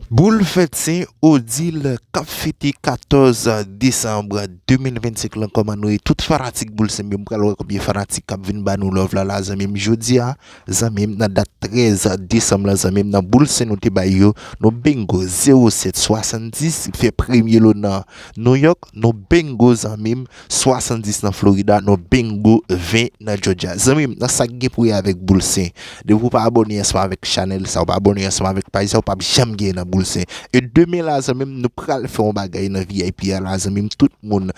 Boul fèt se Odile kap fete 14 desanm 2025 lan kòman nou ye tout fanatik boul senbyen m pral wè konbyen fanatik kap vin ba nou love la la zanmim jodia zanmim nan dat 13 desanm lan zanmim nan boul sen nou te bay yo nou bingo 07 70 fè premye lo nan New York nou bingo zanmim. 70 nan Florida non bingo 20 nan Georgia Zanmim nan sak gen pou wè avèk boul sen depi ou pa abòne ansanm avèk chanèl sa ou pa abòne ansanm avèk paj sa ou pap janm gen nan boul sen e demen la zanmim nou pral fè yon bagay nan vip a la zanmim tout moun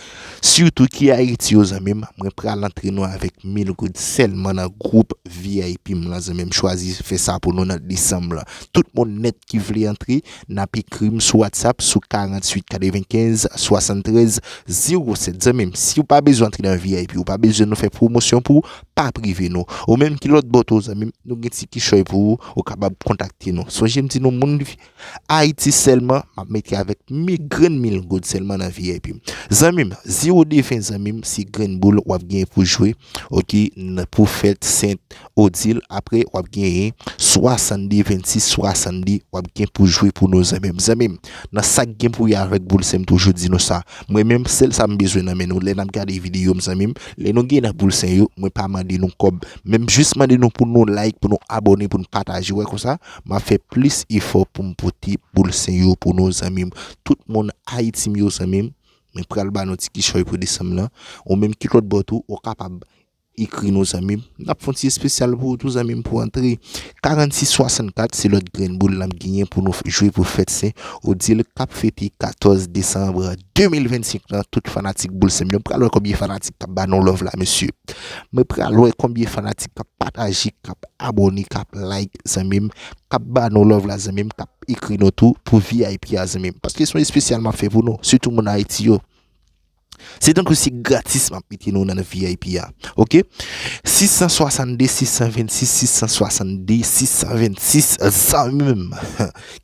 sitou ki ayiti yo zanmim mwen pral antre nou avèk 1000 goud sèlman nan gwoup vip m lan zanmim chwazi fè sa pou nou nan desanm lan tout moun nèt ki vle antre Nap ekrim sou WhatsApp sou 48 95 73 07 zanmim siw pa bezwen antre nan vip ou pa bezwen nou fè pwomosyon pou pa prive nou ou menm ki lòt bò tou zanmim nou gen ti kichòy pou ou ou kapab kontakte nou sonje m di nou moun ayiti sèlman map mete avèk mi grenn mil goud sèlman nan vip zanmim zero defen zanmim se grenn boul wap gen pou jwe ok nan pou fèt sent Odil apre wap genyen 62 26 62 wap gen pou jwe pou nou zanmi mezanmi nan sak gen pou wè avèk boul sen mtoujou di nou sa mwen menm sèl sa mbezwen nan men nou lè nap gade videyo m zanmi m lè nou gen nan boul sen yo mwen pa mande nou kòb men m jis mande nou pou nou like pou nou abòne pou nou pataje wè konsa map fè plis efò poum pote boul sen yo pou nou zanmi m tout moun ayiti m yo zanmi m mwen pral ba nou ti kichòy pou desanm lan ou menm ki lòt bò tou ou kapab Ekri nou zanmim. Nap fon ti espesyal pou ou tou zanmim pou antre 46 64 se lòt grenn boul nap genyen pou nou jwe pou fèt sen odile kap fete 14 desanbre 2025 lan tout fanatik boul sen m yo m pral wè konbyen fanatik kap ba nou love la mesye mwen pral wè konbyen fanatik kap pataje kap abòne kap like zanmim kap ba nou love la zanmim kap ekri nou tou pou vip a zanmim paske son espesyal map fè pou nou sitou moun ayiti yo. Se tankou se gratis map mete nou nan vip a ok 662 626 662 626 zanmim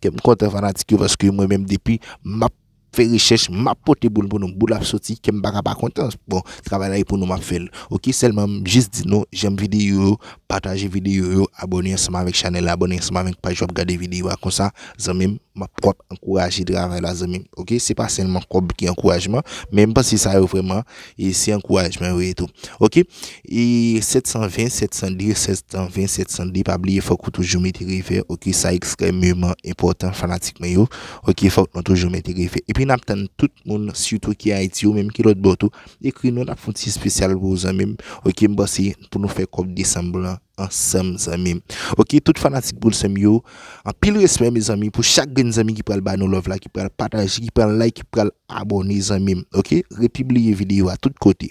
kem kontan fanatik yo paske mwen menm depi map fè rechèch map pote boul pou nou boul ap soti kem paka pa kontan bon travay la e pou nou map fèl ok selman m jis di nou janm videyo yo pataje videyo yo abone ansanm avèk chanèl la abone ansanm avèk paj wap gade videyo a konsa Zanmim map pwap ankouraje travay la zanmim ok se pa selman kob ki ankourajman men m panse sa yo vreman e se ankourajman yo ye tou ok e 720 702 720 702 pa bliye fok ou toujou mete revè ok sa ekstrèmeman enpòtan fanatik mwen yo ok fok nou toujou mete revè epi nap tann tout moun sitou ki ayiti ou menm ki lòt bò tou ekri nou nap fon ti espesyal pou ou zanmim ok m panse pou nou fè kob desanm lan ansanm zanmim ok tout fanatik boul sèm yo Anpil respè mezanmi pou chak grenn zanmi ki pral ba nou love la ki pral pataje ki pral like ki pral abone zanmim ok repibliye video a tout kote.